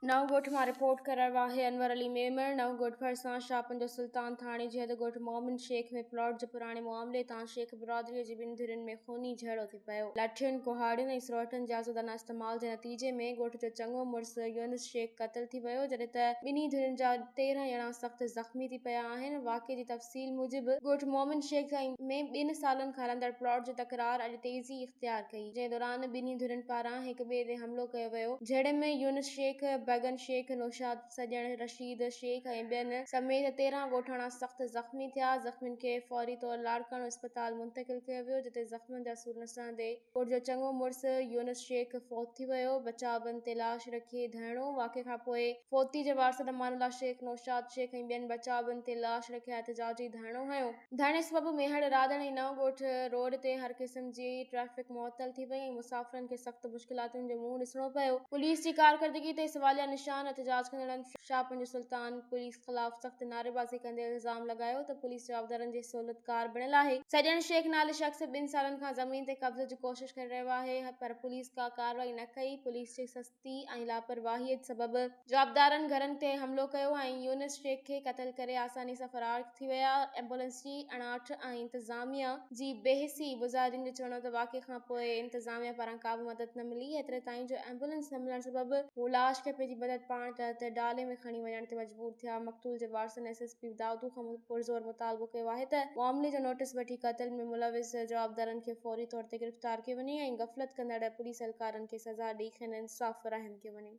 نئون ڳوٺ مان رپورٽ ڪرڻ واهي انور علي ميمڻ نئون ڳوٺ ڀرسان شاهپن جو سلطان ٿاڻي جي حد ڳوٺ مومن شيخ ۾ پلاٽ جي پراڻي معاملي تان شيخ برادري جي ٻن ڌرين ۾ خوني جهيڙو ٿي پيو لاٺين ڪهاڙين ۽ سروٽن جي آزادانه استعمال جي نتيجي ۾ ڳوٺ جو چڱو مڙس يونس شيخ قتل ٿي ويو جڏهن ته ٻنهي ڌرين جا تيرهن ڄڻا سخت زخمي ٿي پيا آهن واقعي جي تفصيل موجب ڳوٺ مومن شيخ ۾ ٻن سالن کان هلندڙ پلاٽ جي تڪرار اڄ تيزي اختيار ڪئي جنهن دوران ٻنهي ڌرين پاران هڪٻئي تي حملو ڪيو ويو، جهڙن ۾ يونس شيخ، بيگن شيخ، نوشاد، سڄڻ، رشيد شيخ ۽ ٻين سميت تيرهن ڳوٺاڻا سخت زخمي ٿيا، زخمين کي فوري طور لاڙڪاڻو اسپتال منتقل ڪيو ويو، جتي زخمن جا سور نه سهندي پٽ جو چڱو مڙس يونس شيخ فوت ٿي ويو، بچاء بند تي لاش رکي ڌرڻو، واقعي کانپوء فوتي جي وارثن امان الله شيخ، نوشاد شيخ ۽ ٻين بچاء بند تي لاش رکي احتجاجي ڌرڻو هنيو. ڌڻي سبب ميهڙ، راڌڻ ۽ نئون ڳوٺ روڊ تي هر قسم جي ٽريفڪ معطل ٿي وئي ۽ مسافرن کي سخت مشڪلاتن جو منهن ڏسڻو پيو. پوليس جي ڪارڪردگي تي سواليا نشان، احتجاج ڪندڙن شاهه پنجو سلطان پوليس خلاف سخت نعريبازي ڪندي الزام لڳايو ته پوليس جوابدارن جي سهولتڪار بڻيل آهي، سڄڻ شيخ نالي شخص ٻن سالن کان زمين تي قبضي جي ڪوشش ڪري رهيو آهي پر پوليس ڪا ڪارروائي نه ڪئي، پوليس جي سستي. سستي ۽ لاپرواهيء سبب جوابدارن گهرن تي حملو ڪيو ۽ يونس شيخ کي قتل ڪري آساني سان فرار ٿي ويا ايمبولنس جي اڻاٺ ۽ انتظاميه جي بي حسي مظاهرين جو چوڻ هو ته واقعي کانپوء انتظاميه پاران ڪابه مدد نه ملي ايتري تائين جو ايمبولنس نه ملڻ سبب هو لاش کي پنهنجي مدد پاڻ ڪرڻ تي ڊالي ۾ کڻي وڃڻ تي مجبور ٿيا مقتول جي وارثن ايس ايس حفيظ دائودو کان پرزور مطالبو ڪيو آهي ته معاملي جو نوٽيس وٺي قتل ۾ ملوث جوابدارن کي فوري طور تي گرفتار ڪيو وڃي ۽ غفلت ڪندڙ پوليس اهلڪارن کي سزا ڏئي کين انصاف فراهم ڪيو وڃي.